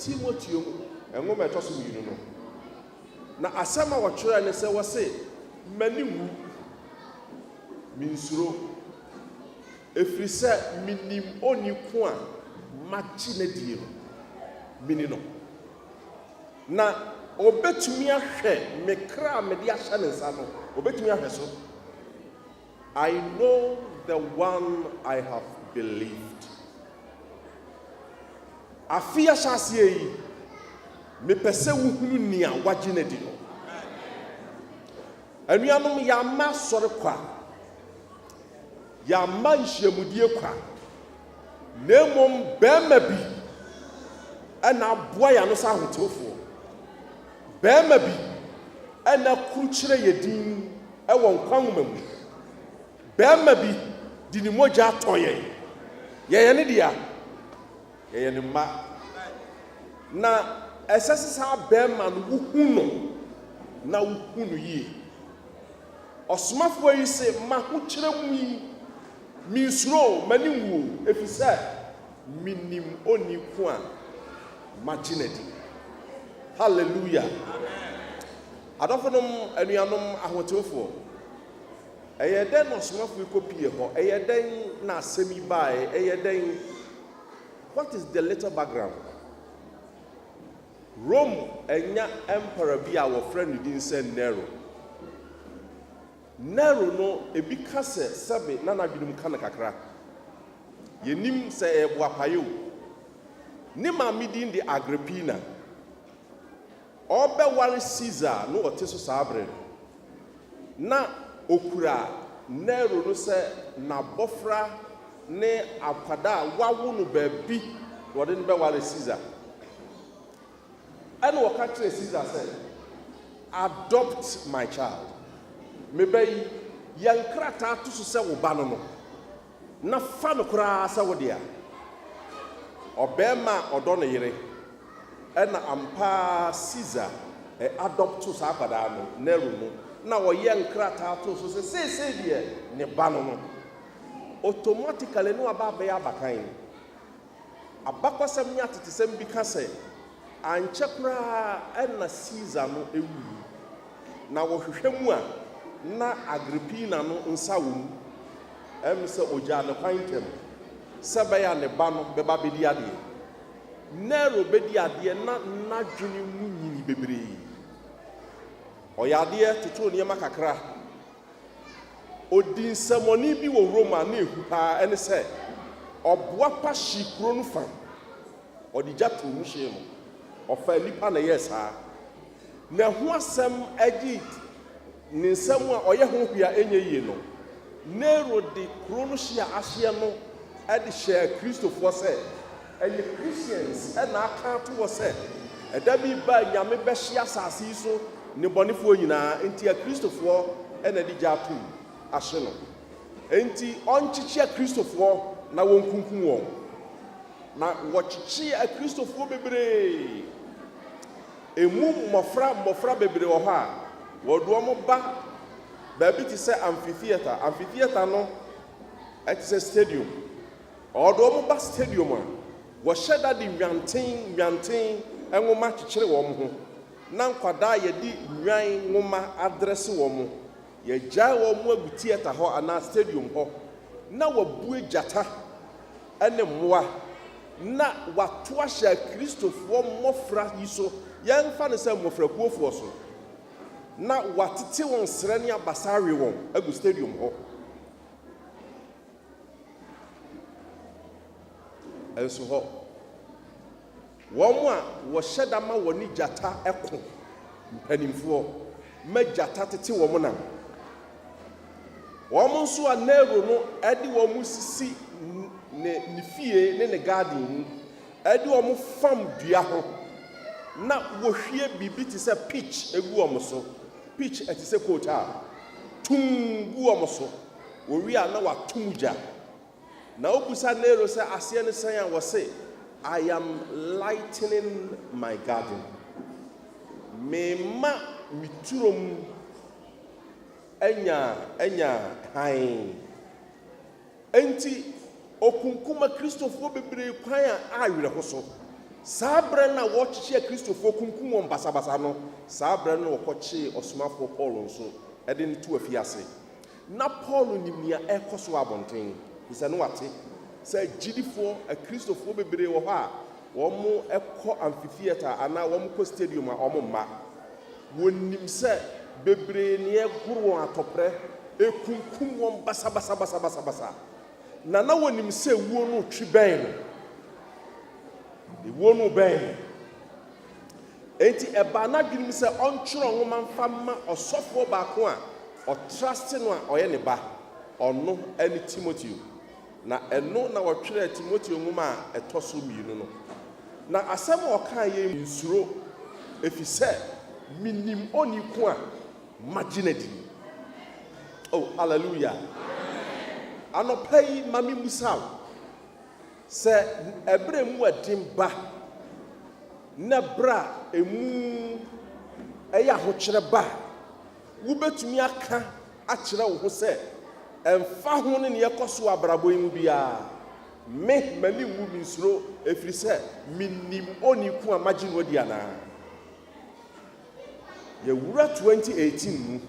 Timoteo nwoma a ɛtɔ so mmienu no, na asɛm a wɔtwerɛɛ ne sɛ, Wɔse, M'ani nwu, mensuro, ɛfiri sɛ menim onii ko a magye no adie no, meni no, na ɔbɛtumi ahwɛ me kra a mede ahyɛ ne nsa no, ɔbɛtumi ahwɛ so. I know the one I have believed. Afe ahyɛaseɛ yi, mepɛ sɛ wohunu nea wagye no adi no. Anuanom, yɛama sɔre kwa, yɛama nhyiamudie kwa, na mmom barima bi na aboa yɛn ano sɛ ahotefoɔ. Barima bi a na kurukyerɛ yɛ dinn wɔ nkwa nwoma mu. Barima bi de ne mogya tɔ yɛn. Yɛyɛ ne dea. Yɛyɛ ne mma. Na ɛsɛ sɛ saa barima no wohu no, na wohu no yie. Ɔsomafoɔ yi se, M'ahokyerɛ mu yi, mensuro o, m'ani nwu o, ɛfiri sɛ. Minim onni ko a magye no adi. Hallelujah! Adɔfonom, anuanom ahotewfoɔ, ɛyɛɛ dɛn na ɔsomafo yi kɔpuee hɔ? Ɛyɛɛ dɛn na asɛm yi baeɛ? Ɛyɛɛ dɛn? What is the little background? Rome anya ɛmpara bi a wɔfrɛ ne din sɛ Nero. Nero no, ebi ka sɛ sɛbe na n'adwene mu ka no kakra. Yennim sɛ ɛyɛ boapayɛ o. Ne maame din de Agrippina. Ɔrebɛware Caesar na ɔte so saa bere no, na okura Nero no sɛ n'abofra ne akwadaa a wawo no baabi na ɔde no bɛware Caesar. Ɛnna ɔka kyerɛɛ Caesar sɛ, Adopt my child, me ba yi, yɛ nkrataa to so sɛ wo ba no no, na fa no koraa sɛ wo dea. Ɔbarima a ɔdɔ ne yere. Ɛnna ampa ara Caesar adɔpto saa akwadaa no, Nero no, na ɔyɛɛ nkrataa too so sɛ seesei deɛ ne ba no no. Automatically na waba abɛyɛ abakan. Abakɔsɛm ne atetesɛm bi ka sɛ, ankyɛ koraa na Caesar no wui, na wɔhwehwɛ mu a, na Agrippina no nsa wom. Ɛyɛ me sɛ ogyaa ne kwan ntɛm sɛ ɛbɛyɛ a ne ba no bɛba abedi adeɛ. Nero bedi adeɛ na n'adwene mu nyinii bebree. Ɔyɛ adeɛ totoo nneɛma kakra. Ɔdii nsɛmmɔne bi wɔ Roma a na ɛhu pa ara, ɛne sɛ, ɔboa pa hyee kuro no fa. Ɔde gya too mu hyee no. Ɔfaa nnipa na ɛyɛɛ saa. Na ɛho asɛm gye ne nsɛm a ɔyɛ ho hwee a ɛnyɛ yie no. Nero de kuro no hye a ahyeɛ no de hyɛɛ Kristofoɔ sɛ, Ɛyɛ Christians na aka ato hɔ sɛ ɛda bi reba a Nyame bɛhye asase yi so nnebɔnefoɔ nyinaa, enti Akristofoɔ na ɛde gya atom ahye no. Enti ɔnkyekye Akristofoɔ na wɔnkunkum wɔn. Na wɔkyekyee Akristofoɔ bebree. Emu mmɔfra mmɔfra bebree wɔ hɔ a wɔde wɔn ba baabi te sɛ amphitheatre. Amphitheatre no te sɛ stadium. Ɔde wɔn ba stadium a, wɔhyɛ da de Nnwanten Nnwanten nwoma kyekyere wɔn ho, na nkwadaa a yɛde nnwan nwoma adrɛse wɔn. Yɛagyae wɔn agu theatre hɔ anaa stadium hɔ na wɔabue gyata ne mmoa na wɔato ahyɛ Akristofoɔ mmɔfra yi so, yɛmfa no sɛ mmɔfrakuofoɔ so, na wɔatete wɔn serɛ ne abasa awe wɔn agu stadium hɔ. Nso hɔ, wɔn a wɔhyɛ da ma wɔne gyata ko mpanimfoɔ ma gyata tete wɔn nam. Wɔn nso a Nero no de wɔn sisi ne, ne fie ne ne garden mu, de wɔn fam dua ho, na wɔhwie biribi te sɛ pitch gu wɔn so. Pitch ɛte sɛ coat a, tumm gu wɔn so. Wɔwie a na wɔato mu gya. Na wobisa Nero sɛ aseɛ ne sɛn a, wɔse, I am lightening my garden. Mema me turo mu anya anya hann. Enti ɔkunkum Akristofoɔ bebree kwan a awerɛho so. Saa berɛ no a wɔrekyekye Akristofoɔ, kunkum wɔn basabasa no, saa berɛ no na wɔkɔkyee ɔsomafoɔ Paulo nso de no too afiase. Ná Paulo nim nea ɛrekɔ so wɔ abɔnten, efisɛ na wate sɛ gyidifo Kristofo bebree wɔ hɔ a wɔkɔ amfitheatre anaa wɔkɔ stadium a wɔmma. Wonim sɛ bebree na ɛregoro wɔn atɔprɛ, ekunkum wɔn basabasabasabasa, na na wonim sɛ wuo no retwe bɛn no. Ewuo no rebɛn. Enti ɛbaa n'adwenem sɛ ɔntwerɛ nwoma mfa mma ɔsɔfoɔ baako a ɔtra ase no a ɔyɛ ne ba. Ɔno ne Timoteo. Na ɛno na wɔtwerɛɛ Timoteo nwoma a ɛtɔ so mmienu no. Na asɛm a ɔkaeɛ yi. Nsuro, ɛfiri sɛ menim onii ko a magye no adi. O, haleluia! Anɔpa yi, ma memmisa wo. Sɛ ɛberɛ mu ɛden ba, ne berɛ a ɛmu ɛyɛ ahokyerɛ ba a, wobɛtumi aka akyerɛ wo ho sɛ, Ɛmfa ho ne nea ɛkɔ so wɔ abrabɔ yi mu biara, me, m'ani nwu, mensuro, ɛfiri sɛ mennim onii ko a magye no adi anaa. Yɛwura 2018 mu.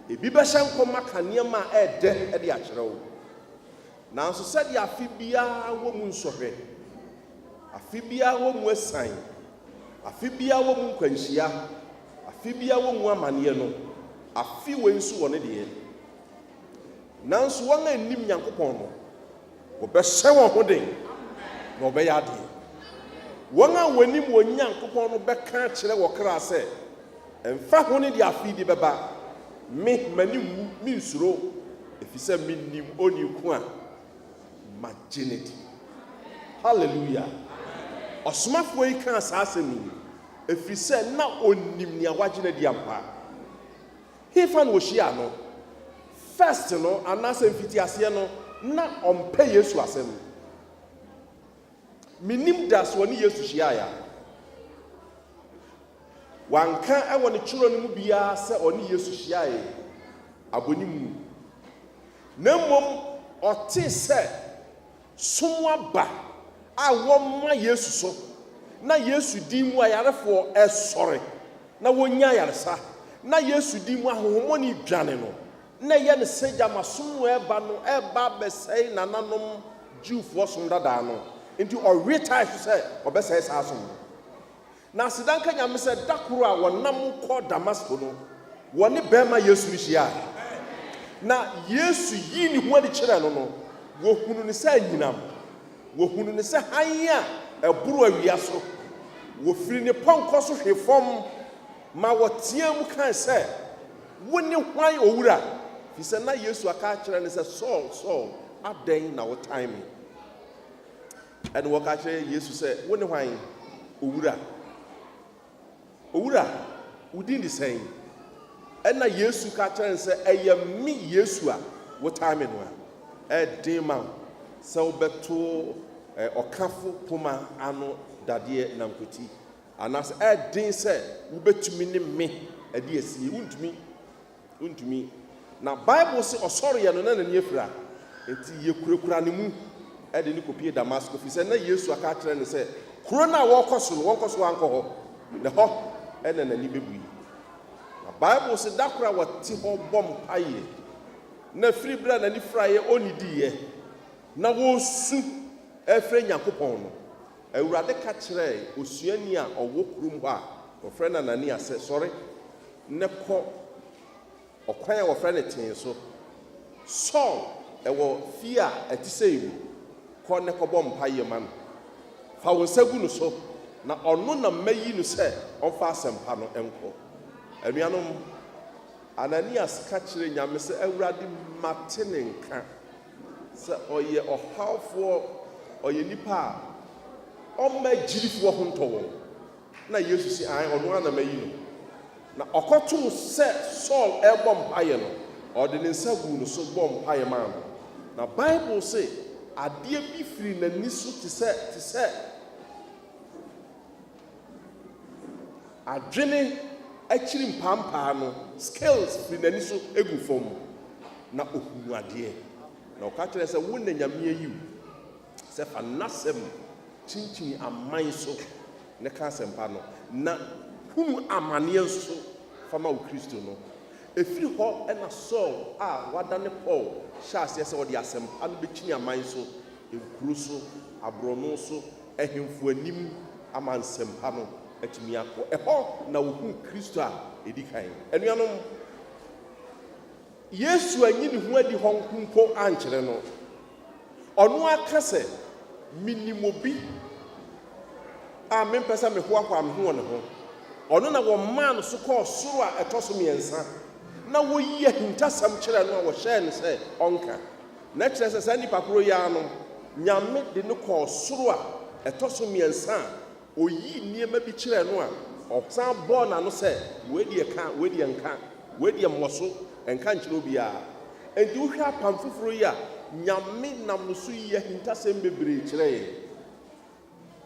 Ebi bɛhyɛ nkɔm aka nneɛma a ɛyɛ dɛ de akyerɛ wo. Nanso sɛdeɛ afe biara wɔ mu nsɔhwɛ, afe biara wɔ mu asiane, afe biara wɔ mu nkwanhyia, afe biara wɔ mu amaneɛ no, afe wei nso wɔ ne deɛ. Nanso wɔn a nnim Nyankopɔn no, wɔbɛhyɛ wɔn ho den, na wɔbɛyɛ adeɛ. Wɔn a wɔnim wɔn Nyankopɔn no bɛka akyerɛ wɔ kra sɛ. Ɛmfa ho ne deɛ afei de bɛba, me, m'ani nwu, mensuro, ɛfiri sɛ menim Onii ko a magye no adi. Hallelujah! Ɔsomafoɔ yi kaa saa asɛm yi ɛfiri sɛ na ɔnim nea wagye no adi ampa. Hefa na ɔhyiaa no? First no, anaasɛ mfitiaseɛ no, na ɔmpɛ Yesu asɛm. Minnim da so ɔne Yesu hyiae a wanka wɔ ne kyerɛw no mu biara sɛ ɔne Yesu hyiae abɔnim mu, na mmom ɔtee sɛ som aba a wɔma Yesu so na Yesu din mu ayarefoɔ resɔre na wɔnya ayaresa, na Yesu din mu ahonhommɔne dwane no. na ɛyɛ no sɛ gyama som mu ɛreba no reba abɛsɛe nananom Jewfoɔ som dadaa no, enti ɔwe tae so sɛ ɔbɛsɛe saa som no. Na aseda nka Nyame sɛ da koro a wɔnam kɔ Damasko no, wɔne bɛɛma Yesu no hyiae. Na Yesu yii ne ho adi kyerɛɛ no no, wɔhunu no sɛ anyinam, wɔhunu no sɛ hann a ɛboro awia so. Wɔfiri ne pɔnkɔ so hwe fam ma wɔteaa mu kae sɛ. Wone hwan, Owura? Efisɛ na Yesu aka akyerɛ no sɛ, Saul, Saul, adɛn na wotan me? Ɛnna wɔka kyerɛɛ Yesu sɛ, Wone hwan, Owura? Owura, wo din de sɛn? Ɛnna Yesu ka kyerɛɛ no sɛ, Ɛyɛ me Yesu a wotan me no a. Ɛyɛ den ma wo sɛ wobɛto ɔkafo poma ano dadeɛ nankwati. Anaasɛ ɛyɛ den sɛ wubetumi ne me adi asie? Wuntumi. Wuntumi. Na Bible se ɔsɔreeɛ no, na n'ani afira. Enti yɛkurakura ne mu de no kɔpue Damasko, ɛfiri sɛ na Yesu aka akyerɛ no sɛ kuro no a wɔrekɔ so no, wɔnkɔ so ankɔ hɔ, na hɔ na n'ani bɛbue. Na Bible se da koro a wɔte hɔ bɔ mpaeɛ, na firi berɛ a n'ani firaeɛ ɔnnidiiɛ, na wɔresu ɛrefrɛ Nyankopɔn no, Awurade ka kyerɛɛ osuani a ɔwɔ kurom hɔ a wɔfrɛ no Anania sɛ, Sɔre na kɔ ɔkwan a wɔfrɛ no Tee so. Saul wɔ fie a ɛte sɛɛ mu. Kɔ na kɔbɔ mpaeɛ ma no. Fa wo nsa gu no so, na ɔno na mayi no sɛ ɔmfa asɛmpa no nkɔ. Anuanom, Ananias ka kyerɛɛ Nyame sɛ, Awurade, mate ne nka. Sɛ ɔyɛ ɔhawfoɔ, ɔyɛ nipa a ɔmma agyidifoɔ ho ntɔ wɔn. Na Yesu se, Aane, ɔno ara na mayi no. Na ɔkɔtoo sɛ Saul rebɔ mpaeɛ no, ɔde ne nsa guu no so bɔɔ mpaeɛ maa no. Na Bible se, adeɛ bi firii n'ani so te sɛ, te sɛ. Adwene akyiri mpaampaa no, Scales firi n'ani so gu fam, na ɔhunuu adeɛ. Na ɔka kyerɛɛ sɛ, Wo na Nyame ayi wo sɛ fa N'asɛm kyinkyini aman so na ka asɛmpa no, na hunu amaneɛ nso fa ma wo Kristo no. Ɛfiri hɔ na Saul a wadane Paul hyɛɛ aseɛ sɛ ɔde asɛmpa no bɛkyini aman so, nkuro so, aborɔno so, Ahemfo Anim ama nsɛmpa no atumi akɔ. Ɛhɔ na wohuu Kristo a edi kan. Anuanom, Yesu anyi ne ho adi hɔ nko mpo ankyerɛ no. Ɔno ara ka sɛ, Minnim obi a mempɛ sɛ mehoahoa me ho wɔ ne ho. Ɔno na wɔmaa no so kɔɔ soro a ɛtɔ so mmiɛnsa, na woyi ahintasɛm kyerɛɛ no a wɔhyɛɛ no sɛ ɔnka. Na kyerɛ sɛ saa nipa koro yi ara no Nyame de no kɔɔ soro a ɛtɔ so mmiɛnsa a ɔyii nneɛma bi kyerɛɛ no a ɔsan bɔɔ n'ano sɛ, Wei deɛ ka, wei deɛ nka, wei deɛ mmɔ so, nka nkyerɛ obiara. Enti wohwɛ Apam Foforo yi a, Nyame nam no so yi ahintasɛm bebree kyerɛ yɛn.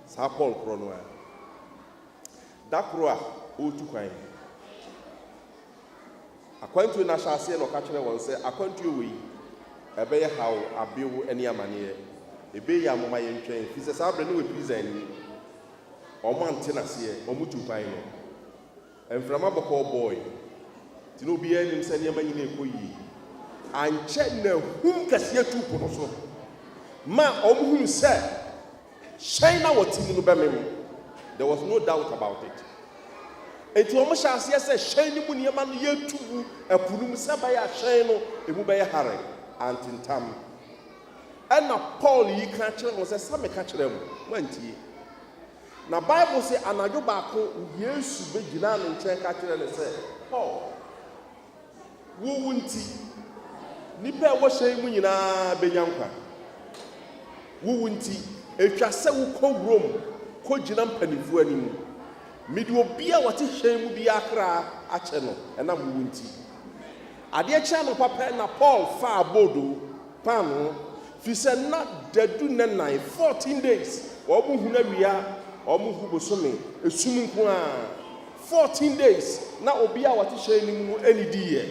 Saa Paul korɔ no ara, da koro a ɔretu kwan no, Akwantuo no ahyɛaseɛ na ɔka kyerɛɛ wɔn sɛ, Akwantuo wei, ɛbɛyɛ haw, abew, ne amaneɛ. Ebe yi a momma yɛntwɛn, firi sɛ saa berɛ no wafiri Zion anim. Wɔn ante no aseɛ, wɔn tuu kwan no. Mframa bɔkɔɔ bɔɔe, nti na obiara nim sɛ nneɛma nyina rekɔ yie. Ankyɛ na ahum kɛseɛ tuu po no so, ma wɔhunu sɛ. Hyɛn na wɔte mu no bɛmem. There was no doubt about it. Enti wɔn hyɛ aseɛ sɛ hyɛn no mu nneɛma no yɛtu gu ɛpo no mu sɛ ɛbɛyɛ a hyɛn no emu bɛyɛ hare. Antentam. Ɛna Paul yi ka kyerɛ wɔn sɛ, sɛ meka kyerɛ mo, moantie. Na Bible se anadwo baako Yesu bɛgyinaa ne nkyɛn ka kyerɛ no sɛ, Paul. Wo wu nti, nnipa a ɛwɔ hyɛn yi mu nyinaa bɛnya nkwa. Wo wu nti, ɛtwa sɛ wokɔ wurom kɔgyina mpanimfoɔ anim. Mede obiara a ɔte hyɛn mu biara kra akyɛ no ɛnam wo wu nti. Adeɛ kyee anɔpa pɛ na Paul faa boodo, paanoo, firi sɛ na dadu nnɛ nnan, 14 days, wɔnhunu awia, wɔnhu bosome, esum nko ara. Fourteen days na obia wɔte hyɛn no mu no anidiiɛ,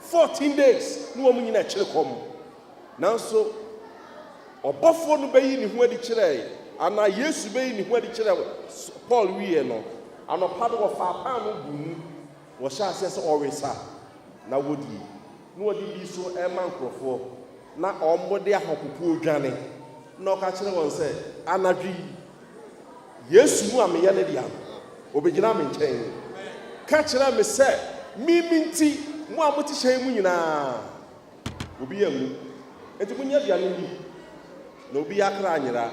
fourteen days na wɔn nyina ɛkyere kɔm. Nanso ɔbɔfoɔ no bɛyi ne ho adi kyerɛɛ, anaa Yesu bɛyi ne ho adi kyerɛɛ Paul wieɛ no, anɔpa no wɔfaa paano buu mu, wɔhyɛɛ aseɛ sɛ wɔwe sa, na wɔdii, na wɔde dii so rema nkurɔfoɔ, na wɔn de ahopopoɔ dwane, na ɔka kyerɛɛ wɔn sɛ, Anadwo yi Yesu mu a meyɛ ne dea no, obegyinaa me nkyɛn ka kyerɛɛ me sɛ, Me me nti, mo a mote hyɛn mu nyinaa, obiara anwu. Enti monyɛ aduane nni, na obiara kra anyera.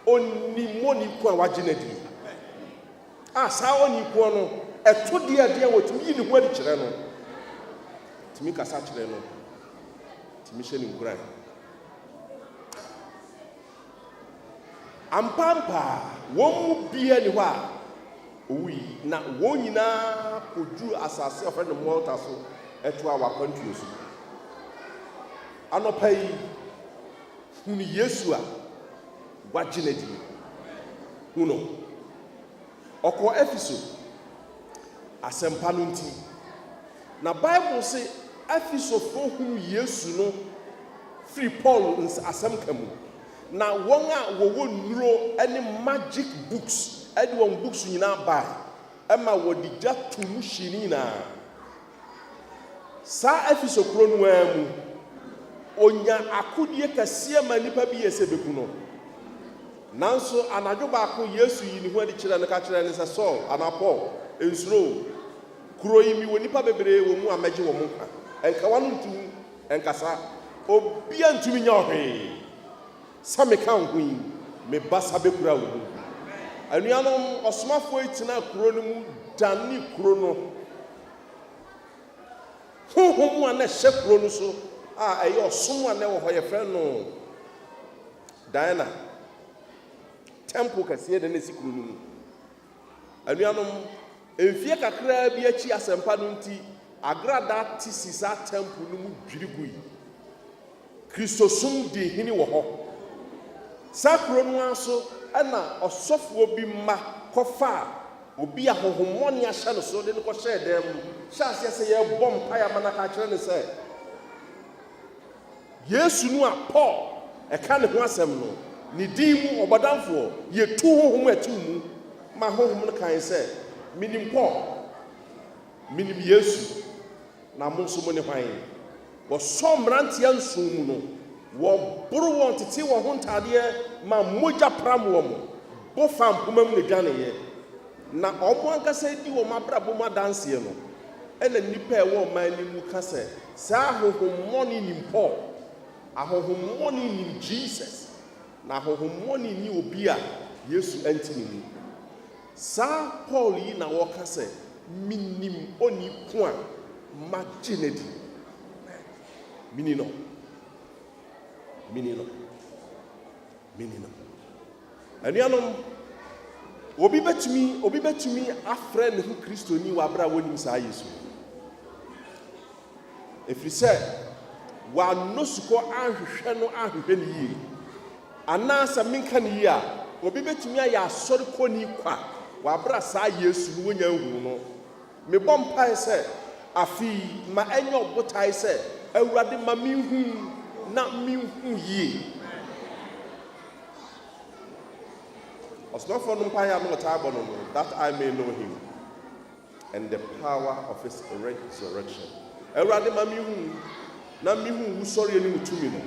Onnim onii ko a wagye no adie, a saa onii ko no, ɛto deɛ ɛdeɛ a wɔtumi yi ne ho adi kyerɛ no, tumi kasa kyerɛ no, tumi hyɛ no nkuran. Ampaapa, wɔn mu biara nni hɔ a owui, na wɔn nyinaa koduruu asase a wɔfrɛ no Malta so toaa wɔn akwantuo so. Anɔpa yi, hunu Yesu a wagye no adi no. Hu no. Ɔkɔɔ Efeso. Asɛmpa no nti. Na Bible se Efesofo hunu Yesu no firi Paul asɛm ka mu. Na wɔn a wɔwɔ nnuro ne magic books de wɔn books nyinaa bae ma wɔde gya too mu hyee ne nyinaa. Saa Efeso kuro no ara mu, ɔnya akodie kɛseɛ ma nnipa bi yɛ sɛ bɛku no. Nanso anadwo baako Yesu yii ne ho adi kyerɛɛ no ka kyerɛɛ no sɛ, Saul, anaa Paul, nsuro. Kuro yi mewɔ nnipa bebree wɔ mu a mɛgye wɔn nkwa. Nka w'ano nto mu, nkasa. Obiara ntumi nyɛ wo hwee. Sɛ meka wo ho yi, me basa bɛkura wo mu. Anuanom, ɔsomafoɔ yi tenaa kuro no mu danee kuro no Honhom a na ɛhyɛ kurow no so a ɛyɛ ɔsom a na ɛwɔ hɔ, yɛfrɛ no Diana Tɛmpol kɛseɛ na na ɛsi kuro no mu. Anuanom, mfeɛ kakraa bi akyi asɛmpa no nti, Agrada te si saa tɛmpol no mu dwiri gui. Kristosom dii hene wɔ hɔ. Saa kuro no ara so na ɔsɔfoɔ bi mma kɔfaa obi a honhommɔne ahyɛ no so de no kɔhyɛɛ dan mu hyɛɛ aseɛ sɛ yɛrebɔ mpaeɛ ama no aka akyerɛ no sɛ Yesu no a Paul ka ne ho asɛm no, ne din mu, ɔbɔdamfoɔ, yɛtu honhom a ɛtew mu ma honhom no kae sɛ, Menim Paul, menim Yesu, na mo nso mone hwan? Wɔsɔn mmeranteɛ nson mu no, wɔboro wɔn tetee wɔn ho ntadeɛ ma mogya pram wɔn, bo faa mpomma mu na ɛdwaneeɛ. Na wɔn ankasa redi wɔn abrabɔ mu adanseɛ no, ɛnna nnipa a ɛwɔ ɔman no mu ka sɛ, Saa ahonhommɔne yi nim Paul, ahonhommɔne yi nim Jesus, na ahonhommɔne yi nni obi a Yesu nte ne mu. Saa Paul yi na ɔka sɛ, Minim onii ko a magye no adi. Mini no. Mini no. Mini no. Anuanom, obi bɛtumi obi bɛtumi afrɛ ne ho Kristoni wɔ abere a wɔnim saa Yesu no? Ɛfiri sɛ, wɔannɔ sukɔ anhwehwɛ no anhwehwɛ no yie. Anaa sɛ menka no yie a, obi bɛtumi ayɛ asɔre kɔni kwa wɔ aberɛ a saa Yesu no wɔnnya nhunuu no. Mebɔ mpaeɛ sɛ afe yi ma ɛnyɛ ɔbotaeɛ sɛ Awurade ma menhu na menhu yie. Ɔsomafoɔ no mpaeɛ a na ɔtaa bɔ no no, that I may know him. and the power of his resurrection. Awurade ma me hu na me hu wusɔreɛ ne wo tumi no.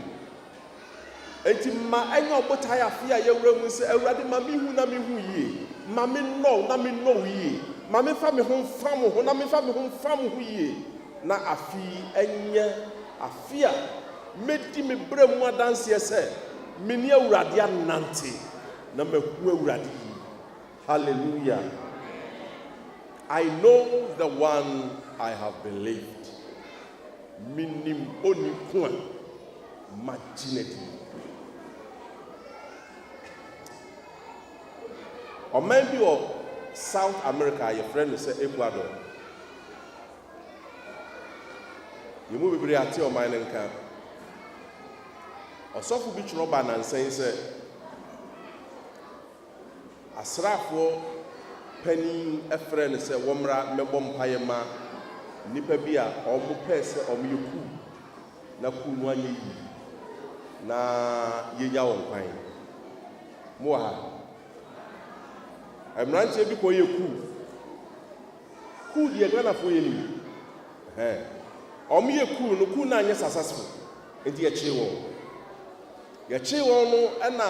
Enti ma ɛnyɛ ɔbotae afe a yɛwura mu sɛ Awurade ma me hu na me hu yie, ma me nnɔ wo na me nnɔ wo yie, ma me fa me ho mfa mo ho na me fa me ho mfa mo ho yie. Na afe yi ɛnyɛ afe a mɛdi me brɛ mu adanseɛ sɛ me ne Awurade anante na mahu Awurade yie. Hallelujah! I know the one I have believed. Menim oni ko a magye no adi. Ɔman bi wɔ South America a yɛfrɛ no sɛ Ecuador. Yɛn mu bebree ate ɔman no nka. Ɔsɔfo bi twerɛ ba nansa yi sɛ, Asraafoɔ panin frɛɛ no sɛ wɔmmra mmɛbɔ mpaeɛ mma nnipa bi a wɔpɛɛ sɛ wɔyɛ kuu na kuu no anyɛ yie na yɛnya wɔn kwan. Mowɔ ha? Mmeranteɛ bi kɔyɛ kuu. Kuu deɛ Ghanafoɔ yɛ nim. Ɛhɛn. Wɔyɛ kuu no, kuu no anyɛ successful nti yɛkyee wɔn. Yɛkyee wɔn no na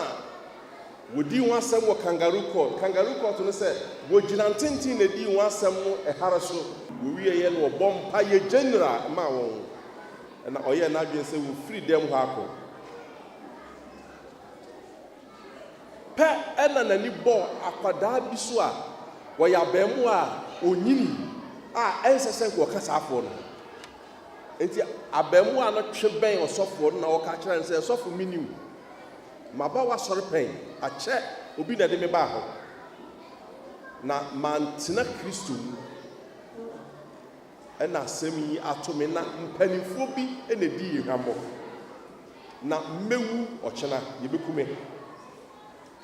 Wɔdii ho asɛm wɔ Kangaroo Court. Kangaroo Court no sɛ wɔgyina ntenten na ɛdii ho asɛm no hare so. Wɔwieeɛ no ɔbɔɔ mpaeɛ gyanyera maa wɔn na ɔyɛɛ n'adwene sɛ wɔfiri dɛm hɔ akɔ. Pɛ na n'ani bɔɔ akwadaa bi so a ɔyɛ abarimaa a ɔnyini a ɛnsɛ sɛ nka ɔka saafoɔ no ho. Enti abarimaa no twe bɛn ɔsɔfoɔ no na ɔka kyerɛɛ no sɛ, Sɔfo, menni wo. Maba w'asɔre pɛn? Akyɛ obi na ɛde me baa hɔ, na mantena Kristo mu na asɛm yi ato me, na mpanimfoɔ bi na ɛdii hwammɔ, na mɛwu ɔkyena, yɛbɛku me.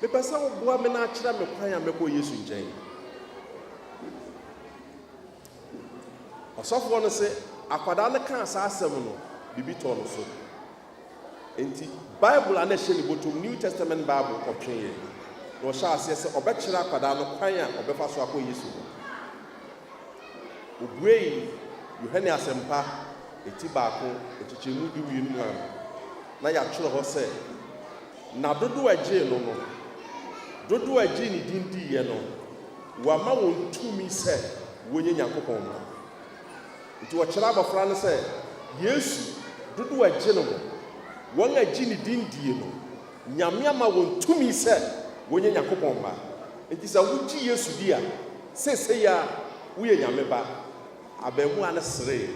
Mepɛ sɛ woboa me na akyerɛ me kwan a mɛkɔ Yesu nkyɛn. Ɔsɔfoɔ no se, akwadaa no kaa saa asɛm no, biribi tɔɔ no so. Enti, Bible a na ɛhyɛ ne bɔtɔm, New Testament Bible, kɔtwee yɛn, na ɔhyɛɛ aseɛ sɛ ɔbɛkyerɛ akwadaa no kwan a ɔbɛfa so akɔ Yesu hɔ. Ɔbuee Yohane Asɛmpa eti baako, nkyekyɛmu du mmienu maa me. Ná yɛatwerɛ hɔ sɛ, Na dodoɔ a ɛgyee no no, dodoɔ a ɛgyee ne din diiɛ no, wama wɔn tumi sɛ wɔnyɛ Nyankopɔn mma. Enti wɔkyerɛ abɔfra no sɛ Yesu, dodoɔ a ɛgye no ho. Wɔn a ɛgye ne din die no, Nyame ama wɔn tumi sɛ wɔnyɛ Nyankopɔn mma. Enti sɛ wogye Yesu di a, seesei ara woyɛ Nyame ba. Abarimaa no seree.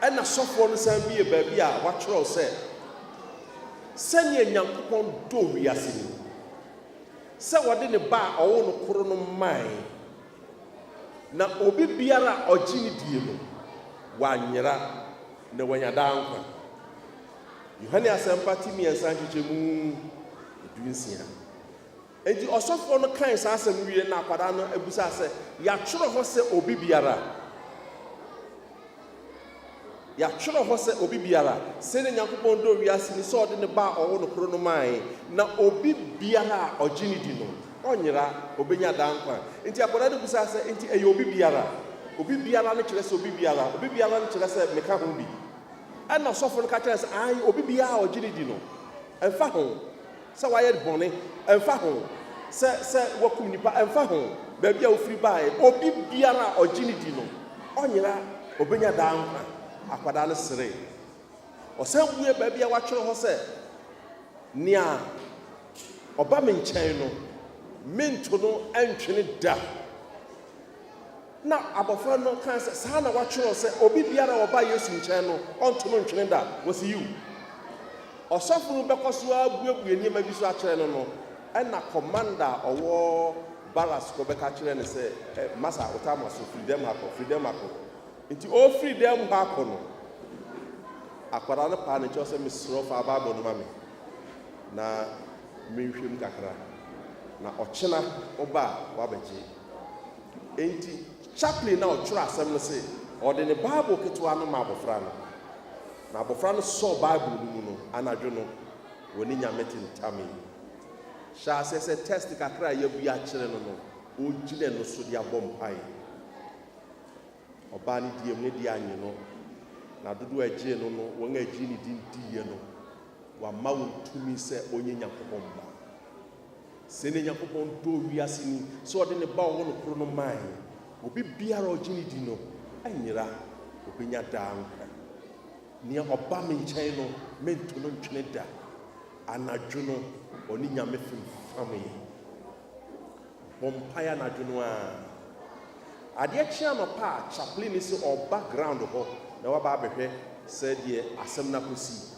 Ɛnna sɔfoɔ no san buee baabi a wɔatwerɛw sɛ, Sɛdeɛ Nyankopɔn dɔ wiase ni, sɛ ɔde ne Ba a ɔwoo no koro no mae. Na obi biara a ɔgye no die no, wanyera, na wanya daa nkwa. Yohane Asɛmpa ti mmiɛnsa nkyekyɛmu du nsia. Enti ɔsɔfoɔ no kae saa asɛm no wieɛ na akwadaa no bisaa sɛ, Yɛatwerɛ hɔ sɛ obi biara a. Yɛatwerɛ hɔ sɛ obi biara, sɛdeɛ Nyankopɔn dɔ wiase ni sɛ ɔde ne Ba a ɔwɔ no koro no maae, na obi biara a ɔgye no di no, ɔnyera, ɔbɛnya daa nkwa. Enti akwadaa no bisaa sɛ, Enti ɛyɛ obi biara? Obi biara no kyerɛ sɛ obi biara? Obi biara no kyerɛ sɛ meka ho bi? Ɛnna ɔsɔfo no ka kyerɛɛ no sɛ, Aane, obi biara a ɔgye no di no, ɛmfa ho. Sɛ wayɛ bɔne, ɛmfa ho. Sɛ, sɛ wakum nnipa, ɛmfa ho baabi a ɔfiri baeɛ. Obi biara a ɔgye no di no, ɔnyera, ɔbɛnya daa nkwa. Akwadaa no seree. Ɔsan buee baabi a wɔatwerɛ hɔ sɛ, Nea ɔba me nkyɛn no, mento no ntwene da. Na abɔfra no kae sɛ, Saa na wɔatwerɛ sɛ, 'Obi biara a ɔba Yesu nkyɛn no, ɔnto no ntwene da. Wɔse, Yiw! Ɔsɔfo no bɛkɔ so ara abuebue nneɛma bi so akyerɛ no no, ɛnna kɔmanda a ɔwɔ barracks kɔbɛka kyerɛɛ no sɛ, Ɛ, masa, wo tama so, firi dɛm ha kɔ, firi dɛm ha kɔ. Enti ɔrefiri dɛm hɔ akɔ no, akwadaa no paa ne kyɛw sɛ, Mesrɛ wo, fa Bible no ma me na menhwɛ mu kakra, na ɔkyena woba a, woabɛgye. Enti Chaplin na ɔtwerɛɛ asɛm no se ɔde ne Bible ketewa no maa abɔfra no, na abɔfra no sɔɔ Bible no mu no anadwo no wɔ ne Nyame tentamee mu. Hyɛ aseɛ sɛ tɛst kakra a yɛabue akyerɛ no no, ɔgyina ɛno so de abɔ mpaeɛ. Ɔbaa no diiɛ mu, ne deɛ annye no, na dodoɔ a ɛgyee no no, wɔn a ɛgyee ne din diiɛ no, wɔamma wɔn tumi sɛ ɔnyɛ Nyankopɔn ba. Sei na Nyankopɔn dɔɔ wiase ni, sɛ ɔde ne Ba a ɔwɔ no koro no mae. Obi biara a ɔgye no di no anyera, obenya daa nkwa. Nea ɔba me nkyɛn no, mento no ntwene da. Anadwo no, ɔne Nyame femfamee. Ɔbɔ mpae anadwo no ara. Adeɛ kye anɔpa a, Chaplin no se ɔba ground hɔ na waba abɛhwɛ sɛdeɛ asɛm no akɔsi.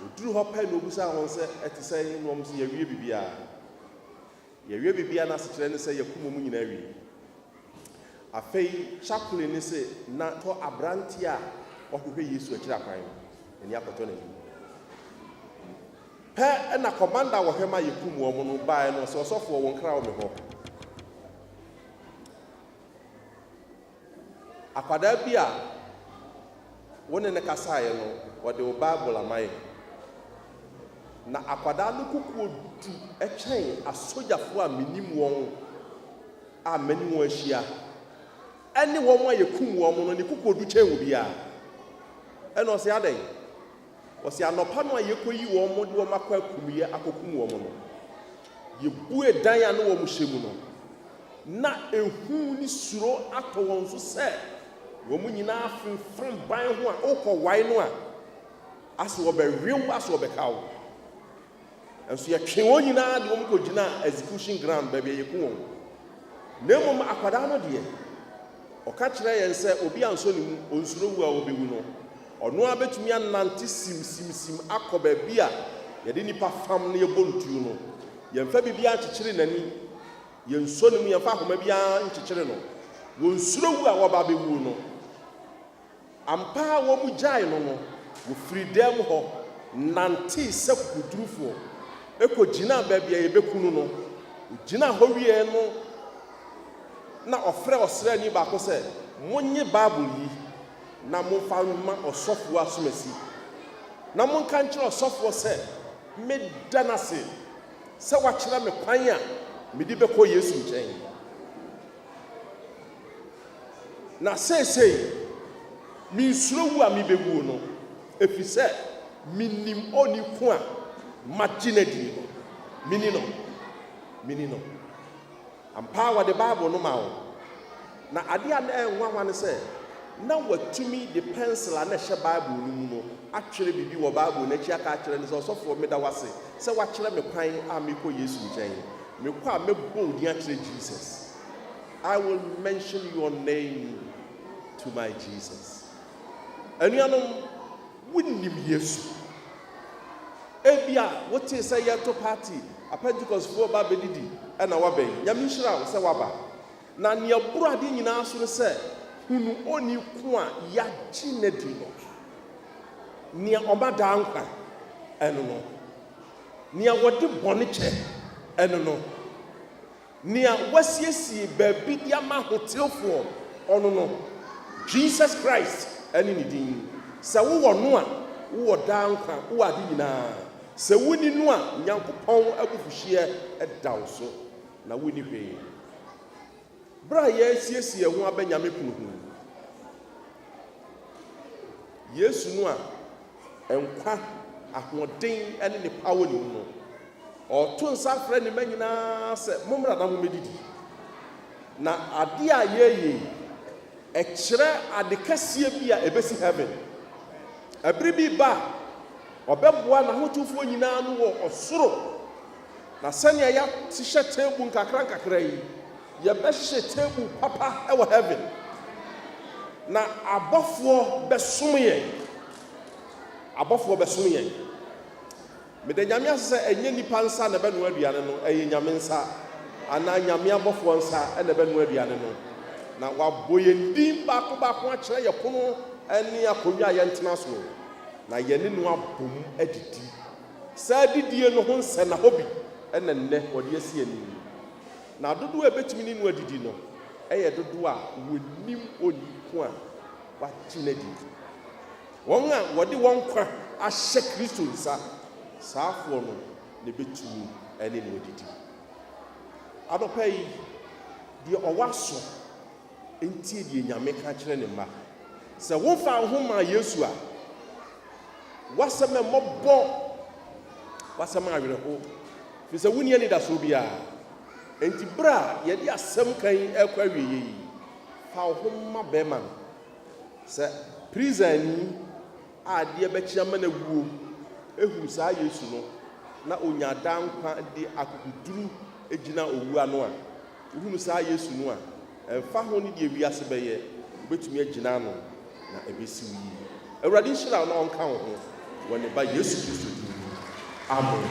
Wɔduruu hɔ pɛ na ɔbisaa wɔn sɛ, Ɛte sɛn? Na wɔse, Yɛawie biribiara. Yɛawie biribiara no asekyerɛ ne sɛ yɛakum wɔn nyinaa awie. Afei Chaplin no se, Na tɔ aberanteɛ a ɔhwehwɛ Yesu akyiri akwan no, n'ani akɔtɔ n'anim. Pɛ na kɔmanda a wɔhwɛ ma yɛkum wɔn no baeɛ na ɔse, Ɔsɔfoɔ, wo nkra wɔ me hɔ. Akwadaa bi a wo ne no kasaeɛ no, ɔde wo Bible amae. Na akwadaa no kokoɔ du kyɛn asogyafoɔ a mennim wɔn a mane wɔn ahyia, ɛne wɔn a yɛkum wɔn no, ne kokoɔ du kyɛn obiara. Ɛnna ɔse, Adɛn? Wɔse anɔpa no a yekoyii wɔn de wɔn akɔ akumyɛ akokum wɔn no, yebue dan a na wɔn hyɛ mu no, na ehu ne suro atɔ wɔn so sɛ wɔn nyinaa femfam ban ho a wokɔwae no a, ase wɔbɛwe wo ase wɔbɛka wo. Nanso yɛtwee wɔn nyinaa de wɔn kɔgyinaa execution ground, baabi a yɛku wɔn. Na mmom akwadaa no deɛ, ɔka kyerɛɛ yɛn sɛ obi ansɔ ne mu, ɔnsuro wu a ɔbɛwu no. Ɔno ara bɛtumi anante simsimsim akɔ baabi a yɛde nnipa fam na yɛbɔ no tuo no. Yɛmfa biribiara nkyekyere n'ani, yɛnsɔ ne mu, yɛmfa ahoma biara nkyekyere no. Wɔnsuro wu a wɔaba abɛwuo no. Ampa ara wɔgyaee no no, wɔfirii dɛm hɔ nantee sɛ kokodurufoɔ kɔgyinaa baabi a yɛbɛku no no. Ɔgyinaa hɔ wieeɛ no na ɔfrɛɛ ɔsraani baako sɛ, Monnye Bible yi na momfa mma ɔsɔfoɔ asomasi, na monka nkyerɛ ɔsɔfoɔ sɛ meda no ase sɛ wakyerɛ me kwan a mede bɛkɔ Yesu nkyɛn. Na seesei minsuro wu a mibewuo no, ɛfiri sɛ menim Ɔni ko a magye no adi no. Meni no. Meni no. Ampa ara wɔde Bible no maa wɔn. Na adeɛ a na ɛyɛ nwanwa ne sɛ, na wɔatumi de pɛnsel a na ɛhyɛ Bible no mu no atwerɛ biribi wɔ Bible no akyi aka akyerɛ no sɛ, Ɔsɔfoɔ, meda wo ase sɛ woakyerɛ me kwan a merekɔ Yesu nkyɛn no. Me kɔ a mɛbɔ wo din akyerɛ Jesus I will mention your name to my Jesus Anuanom wonim Yesu Ebia wotee sɛ yɛreto party Apɛntikɔsfoɔ ba bɛdidi ɛna wabɛn Nyame nhyira wo sɛ waba Na nea ɛboro adeɛ nyinaa so ne sɛ Hunu onii ko a yɛagye n'adi no Nea ɔma daa nkwa ɛno no Nea wɔde bɔne kyɛ, ɛno no. Nea wɔasiesie baabi de ama ahotefoɔ, ɔno no. Jesus Christ ne Ne din. Sɛ wowɔ No a, wowɔ daa nkwa, wowɔ ade nyinaa. Sɛ wonni No a, Nyankopɔn abufuhyeɛ da wo so, na wonni hwee. Bere a yɛresiesie yɛn ho abɛ Nyame kunu ho yi, Yesu no a nkwa, ahoɔden ne ne paa wɔ ne mu no, ɔreto nsa afrɛ ne mma nyinaa sɛ, Mommra na mommedidi. Na ade a yɛreyɛ yi, ɛkyerɛ ade kɛseɛ bi a ɛbɛsi heaven. Ɛbere bi reba a, ɔbɛboa n'ahotefoɔ nyinaa ano wɔ ɔsoro. Na sɛnea yɛahyehyɛ table nkakrankakra yi, yɛbɛhyehyɛ table papa wɔ heaven. Na abɔfoɔ bɛsom yɛn. Abɔfoɔ bɛsom yɛn. Meda Nyame ase sɛ ɛnyɛ nnipa nsa na ɛbɛnoa aduane no, ɛyɛ Nyame nsa anaa Nyame abɔfoɔ nsa na ɛbɛnoa aduane no. Na wɔabɔ yɛn din baako baako akyerɛ yɛn pono ne akonnwa a yɛntena so, na yɛne no abom adidi. Saa adidie no ho nsɛnna hɔ bi na nnɛ wɔde asi anim yi, na dodoɔ a ɛbɛtumi ne no adidi no yɛ dodoɔ a wɔnim ɔyi ko a wɔagye no adi no. Wɔn a wɔde wɔn nkwa ahyɛ Kristo nsa, saafoɔ no na ɛbɛtumi ne no adidi. Anɔpa yi, deɛ ɔwɔ aso. Ntie deɛ Nyame ka kyerɛ ne mma. Sɛ womfaa wo ho mmaa Yesu a, w'asɛm a mmɔbɔ, w'asɛm a awerɛho, firi sɛ wonni anidasoɔ biara. Enti berɛ a yɛde asɛm ka yi rekɔ awieeɛ yi, fa wo ho ma bɛrima no. Sɛ prisani a adeɛ bɛkye ama no awuo hunu saa Yesu no na ɔnya daa nkwa de akokoduru gyina owuo ano a, Wohunu saa Yesu no a, ɛmfa ho ne deɛ wiase bɛyɛ, wobɛtumi agyina ano na ɛbɛsi wo yie. Awurade nhyira wo na ɔnka wo ho wɔ ne Ba Yesu Kristo din mu, amen.